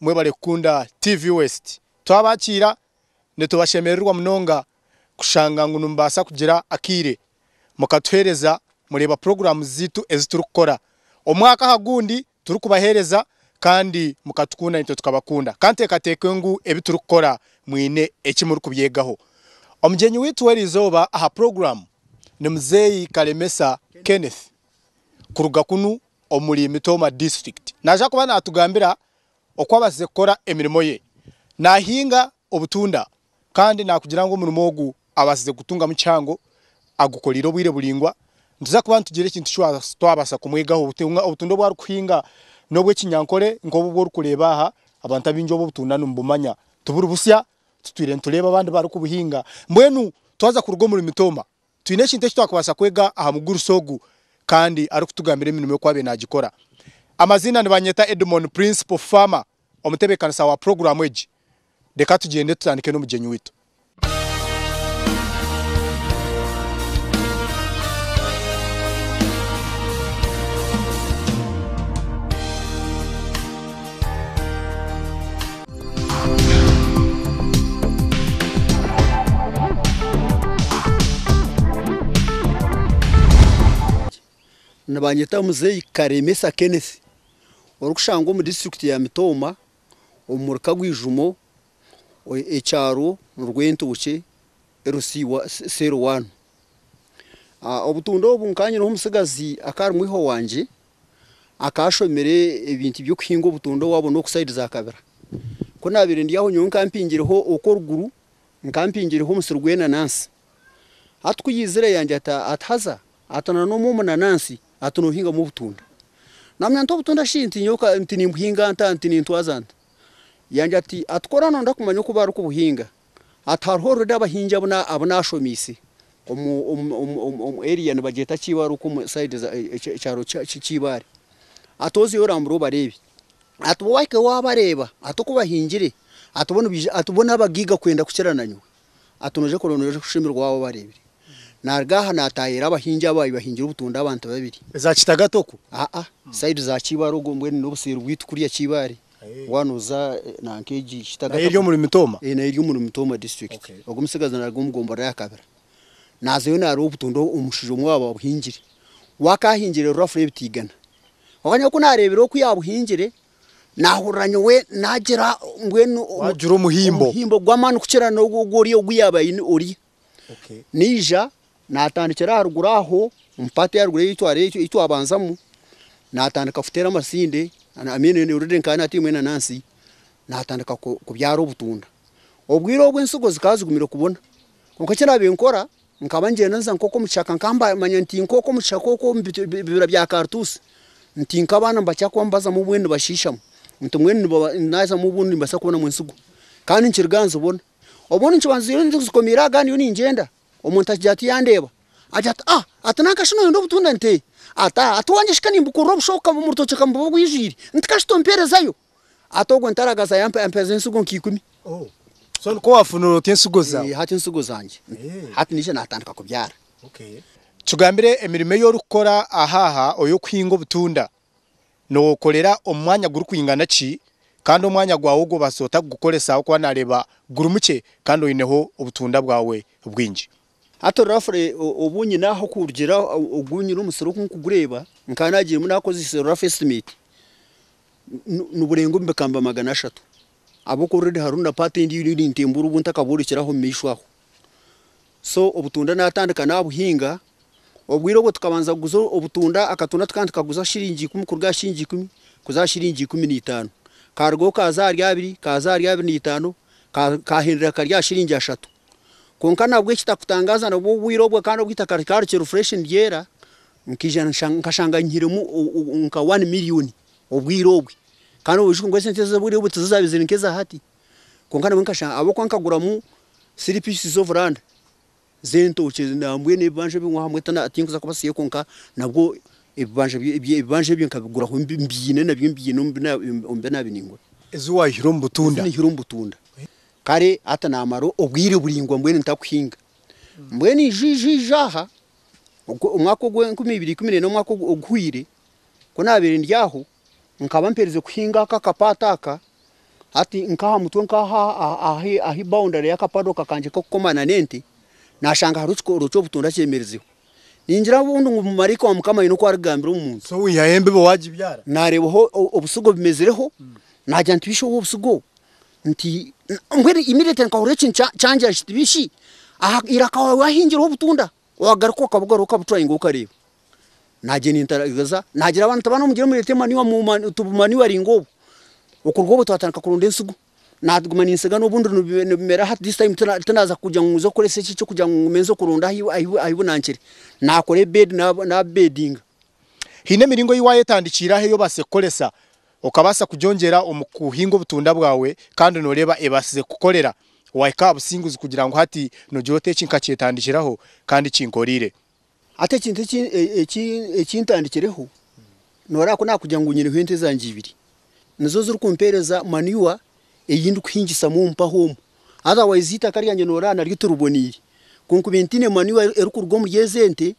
Mwebale kukunda TV West. Twabakiira nitubashemererwa munonga kushanga ngu nimubaasa kugira akaire mukatuheereza mureeba puroguraamu zaitu ezi turikukora omwaka aha gundi turikubaheereza kandi mukatukunda naitwe tukabakunda. Ka nteekateeke ngu ebi turikukora mwine eki murikubyegaho. Omugyenyi waitu w'erizooba aha puroguraamu ni Muzeeyi Kalemesa Kenneth kuruga kunu omuri Mitooma District naija kuba naatugambira oku abaasize kukora emirimo ye naahinga obutunda kandi naakugira ngu omurimo ogu abaasize kutungamu kihango agukoreire obwire buraingwa. Nituza kuba nitugira ekintu eki twabaasa kumwegaho. Obutunda obu arikuhinga n'obw'ekinyankore nk'obu obu orikureeba aha, abantu abaingi obu obutunda nibubumanya tiburi busya, titwire nitureeba abandi barikubuhinga. Mbwenu twaza kuruga omuri Mitooma Twine ekintu eki twakubaasa kwega aha mugurusi ogu kandi arikutugambira emirimo y'oku abaire naagikora. Amaziina, Nibanyeta Edmon, Principal Farmer, omutebeekanisa wa puroguraamu egi. Reka tugyende tutandike n'omugyenyi waitu. Nibanyeta muzeeyi Karemesa Kenneth orikushangwa omu disiturikiti ya Mitooma omuri Kagwijumo ekyaro Rwentookye cell one. Obutunda obu nkanyine omutsigazi akaba ari mwiha wangye akaba ashomire ebintu by'okuhinga obutondo waabo n'oku sayidi za kabira. Ku naabaire ndi aho nyowe nkaba mpingireho okw'oruguru, nkaba mpingireho omusiri gw'enanansi. Hati ku yaizire yangira ati, ati haza ati na n'omwe omunanansi ati noohingamu obutunda. Naamanya nti obutunda shi nti nyowe ka nti nimbuhinga nta nti nintwaza nta? Yangira ati, ati kora nooyenda kumanya oku barikubuhinga, Ati, Hariho orureda abahingi abu naashomiise omu eriya nibagyeta Kiibaare okwo omu sayidi za ekyaro ki Kiibaare. Ati, Ozeyo orambure obareebe. Ati, Bo wahikayo waabareeba, ati oku bahingire, ati bo nibaija ati bo n'abagaiga kwenda kukira na nyowe. Ati, Nooza kureeba nooyeyongyera kushemererwa waaba obareebire. Naaruga aha naataayaira abahingi abo abaabaire bahingire obutunda abantu babiri. Za Kitagata okwo? Aa, sayidi za Kiibaare ogwo mbwenu n'obuseeri bwaitu kuriya Kiibaare. Waaba oza nanka egi Kitagata. Nayo eri omuri Mitooma? Ee, nayo eri omuri Mitooma district. Ogu omutsigazi naaruga omu gomba rya Kabira. Naazayo naareeba obutunda omushija omwe waaba abuhingire. We akaahingire rero afuna ebiti igana. Kwonka nyowe ku naareebire oku yaabuhingire, naahurira nyowe naagira mbwenu. Waagira omuhimbo. Omuhimbo gw'amaani kukira n'ogu oriya ogu yaaba aine oriya. Naija naatandikira aha ruguru aho omu paati ya ruguru ei twabanzamu, naatandika kuteera amasinde, orurere nkanye natairwe enanansi, naatandika kubyara obutunda. Obwire obu ensigo zikaba zigumire kubona. Kwonka eki naabaire nkora, nkaba nigyenda nza nk'okwo omu kishaka nkaba niimanya nti nk'okwo omu kishaka okwo omu bibira bya kaarituusi, nti nk'abaana nibakira kuba nibazamu obumwe nibashiishamu, nti mbwenu naazamu obumwe nimbaasa kubonamu ensigo. Kandi nikiruga aha nzibona. Obwo ninkibanziire nijo nzikomiire aha gaana ndiyo ningyenda. Omuntu akigira ati yandeeba agira ati ah ati nanka shi noyenda obutunda nti ee. Ati ah ati wangye shi ka nimbukurra obusha oka omu rutookye ka mbuba obwijwire nti ka shi tompeerezayo. Ati ogwo ntaragaza yampa yampeereza ensigo nka ikumi. So nikwo waafunire oti ensigo zaawe? Ee hati ensigo zangye. Hati naija naatandika kubyaara. Tugambire emirimo ei orikukora ahaaha, oy'okuhinga obutunda. Nookorera omu mwanya gurikwingana ki, kandi omwanya gwawe ogwo obaasa ota kugukoresa ahabw'okuba naareeba guri mukye kandi oineho obutunda bwawe bwingi? Hati orafuri obu nyine aha kurugira ogu nyine omusiri oku ndikugureeba, nkaba naagirimu naakozesa orafuri esitimeti, niburenga omu bikamba magana ashatu. Abo already hariho na part endijo ei nintembuura obu ntakaborekire aho omumaisho aho. So obutunda natandika nabuhinga, obwire obwo tukabanza kuguza obutunda, akatunda tukaba nitukaguza shiringi ikumi kuruga aha shiringi ikumi kuza aha shiringi ikumi na itaano. Karugaho kaza ahari abiri, kaza ahari abiri na itaano, kahendera kari aha shiringi ashatu. Kwonka nabwo ekitakutangaaza nabwo obwire obwo kandi obu itaka rikaba rikiri fresh niryera, nkaija nkashanga nyihiremu nka one millioni. obwire obwe kandi obushuuko ngu esente ez'obwire obwe tizo zaabaizire nka eza hati kwonka nabwe nkashanga ahabw'okuba nkaguramu three pieces of land z'entookye nambwenu ebibanja ebyo waaba oine tinkuza kubasiyayo kwonka nabwo ebibanja ebibanja ebyo nkabiguraho mbiine nabyo mbiine omu omu bi naabiire ningura ezi waihire omu butunda ezi naihire omu butunda kare hati naamara obwire buraingwa mbwenu ntakuhinga mbwenu ija ija ija aha ogwo omwaka ogw'enkumi ibiri ikumi neena omwaka ogu oguhwire Ku naabaire ndi aho, nkaba mperize kuhinga aka akapaato aka, hati nk'aha mutwe nk'aha ahi boundary y'aka paddock kangye k'okukomana n'ente, naashanga hariho ekikondo ekikondo ky'obutunda kyemerizeho. Ningira bundi ngu maraika wa Mukama aine oku arikugambira omu muntu. So wihayo embibo waagibyara? Naareebaho obusigo bumezireho, naagira nti bishi obu obusigo obu? Nti, mbwenu immediately nkahurira ekintu kyangira kiti bishi aha iraka waawe waahingireho obutunda? Wagaruka okabugarura okabutwara inga okareeba nagyenda entariza nagira abana oti abana omugire murete manure mumanu tubumanuring obwo okuruga obwo twatandika kuronda ensigo naguma ninsiga nobundi nibi nibimera hati this time tina tinaza kugira ngu nze kukoresa eki ekyokugira ngu ngume nze kuronda ahi ahi ahibunankire nakora ebedi na nabedinga. Hine emiringo eyi wayetandikiire aho eyi obaase kukoresa Okabaasa kugyongyera omu kuhinga obutunda bwawe kandi nooreeba ebaasize kukukorera. Waahika aha businguzi kugira ngu hati noogira oti eki nkakyetandikiraho kandi kinkoreire. Hati ekintu eki ekintandikireho, nooreeba ku naakugira ngu nyineho ente zangye ibiri, nizo zirikumpeereza manure ei ndikuhingisamu omu mpaho omu. Otherwise eitaka ryangye nooreeba naryo tiriboneire. Ku nkubaire ntiine manure erikuruga omuri ezo ente,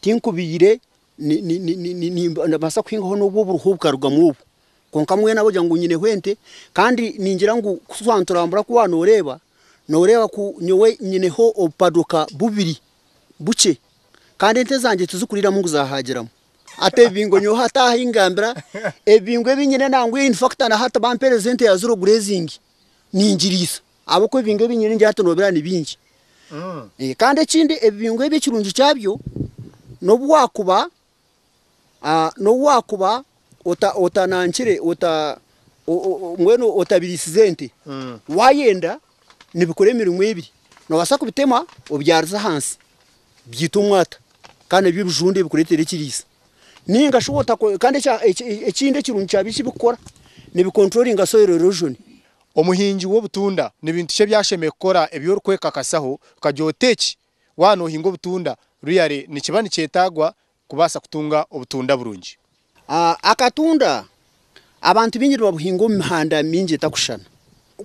tinkubaire. Nibaasa kuhingaho n'obu oburuho bukarugamu obwo. Kwonka mbwenu abarikugira ngu nyineho ente kandi ningira ngu ku twaanituraambura ku waanooreeba, nooreeba ku nyowe nyineho obupadoka bubiri bukye kandi ente zangye tizikuriiramu ngu zaahaagiramu. Hati ebibingo nyowe hati ahu ngambira, ebibingo ebi nyine nangwa infakita na hati bampeereza ente yaazire ogure ezingi, ningiriisa. Ahabw'okuba ebibingo ebi nyine ngira tunoobera ni bingi. Kandi ekindi ebibingo ebi ekirungi kyabyo n'obu waakuba n'obu waakuba otanankire mbwenu otabiriisize ente, waayenda nibikora emirimo ebiri. Noobaasa kubitema obyarize ahansi byite omwata kandi nabyo bijunde bikureetere ekiriisa. Nainga shi kandi ekindi ekirungi kyabyo eki birikukora, nibikonturoringa soyiro eroojoni. Omuhingi w'obutunda ni bintu ki ebi ashemereire kukora ebi orikwekakasaho kukagye ota eki? Waaba noohinga obutunda, ruyare nikiba nikyetaagwa kubaasa kutunga obutunda burungi. A Akatunda abantu baingi nibabuhinga omu mihanda mingi etakushushana.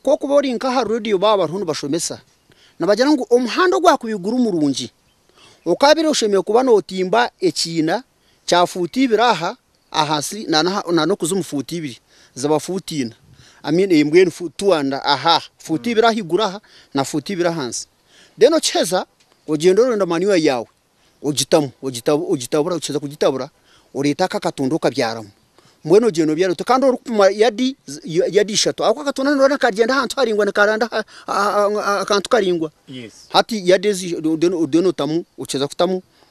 Ku okuba ori nk'aha reediyo baaba bariho nibashomesa, nibagira ngu omuhanda ogwakubaire guri murungi, okaabaire oshemereire kuba nootimba ekiina Kya fuuti ibiri aha ahansi na n'okuzimu fuuti ibiri, ziba fuuti ina, I mean two and a half, fuuti ibiri ahaiguru aha na fuuti ibiri ahansi. Then okiheza ogyenda oronda manure yaawe ogitamu, ogitabura, okiheza kugitabura oreete ako akatunda okabyaramu. Mbwenu ogyenda obyara ota kandi orikupima yadi yadi ishatu ahabw'okuba akatunda nooreeba nikagyenda ahantu haraingwa nikaranda ahantu haraingwa. Hati yadi ezo then otamu, okiheza kutamu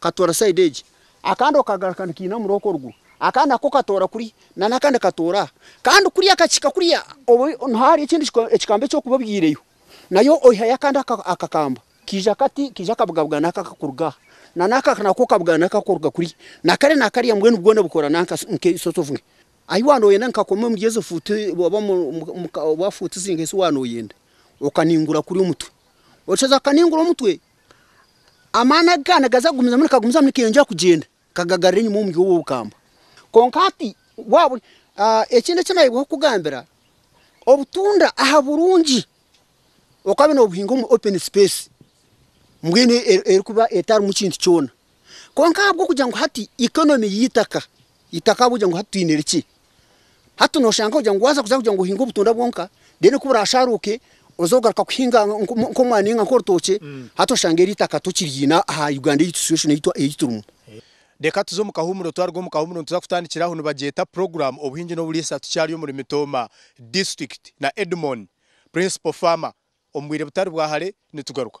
Katoora side egi, akandi okagaruka nikaina omuri okwo ruguru, akandi nako katoora kuri, na n'akandi katoora aha. Kandi kuri akakihika kuriya, obu niho ahari ekindi ekikamba eki orikuba obyaireyo. Nayo oihayo akandi akakamba, kaija kati, kaija kabugabugana aka akakuruga aha, na n'aka nako kabugana aka akakuruga kuri, na kare na kariya mbwenu bwona bukora nanka nk'eishozi ovuga. Ahi wanoyenda nikakoma omuri ezo fuutu oba omu ka, oba fuutu zinka ezi wanoyenda, okaningura kuri omutwe. Oshazire kukaningura omutwe. Amaani agu kaaba nigaza kugumizamu nikagumizamu nikeyongyera kugyenda kagagarura enyima omuri obwo bukambwe. Kwonka hati waabure ekindi eki naayebwaho kukugambira, obutunda aha burungi okabe noobuhinga omu openi sipeesi mbwenu erikuba etarimu kintu kyona. Kwonka ahabw'okugira ngu hati ikonomi y'eitaka Itaka ahabw'okugira ngu hati twine rikye. Hati noshanga ogira ngu waaza kuza kugira ngu ohinge obutunda bwonka, then ku buraashaaruuke oze kugaruka kuhinga nk'omwani nainga nk'orutookye, hati oshanga eri itaka tokiriine aha Uganda ei situation ei turimu. Reka tuze omu kahuumuro, twaruga omu kahuumuro nituza kutandikira ahu nibagyeta Program Obuhingi n'Oburiisa tukyari omuri Mitooma District na Edmon, Principal Farmer. Omu bwire butari bwa hare nitugaruka.